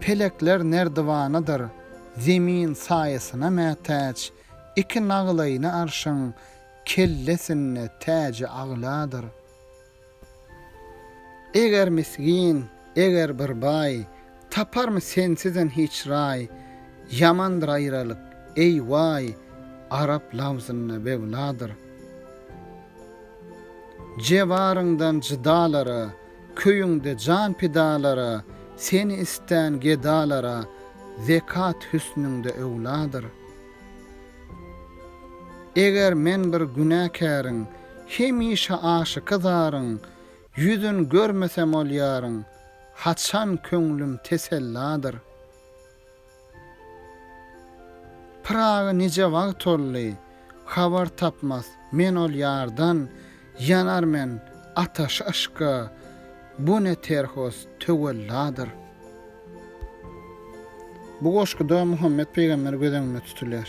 Pelekler nerdiwanadyr, zemin saýasyna mätäç, Iki naglaýyny arşyň kellesinde täji agladyr. Eger misgin, eger bir baý, taparmy sensizem hiç raý, Ýamandyr aýralyk, eý waý, arap lawzynda bewladyr. Jewaryňdan jydalara, Köýüňde jan pidalara, Seni istän gedalara, Zekat hüsnüňde öwladyr. Eger men bir günäkäriň, Hemişe aşyky zaryň, Ýüzün görmesem ol ýaryň, Haçan köňlüm teselladyr. Pyraga nije wagt toldy, Habar tapmas men ol ýardan, Ýanar men ataşy yşka, Bu ne terhos töwelladyr. Bu goşguda Muhammet pygamber göz öňünde tutulýar.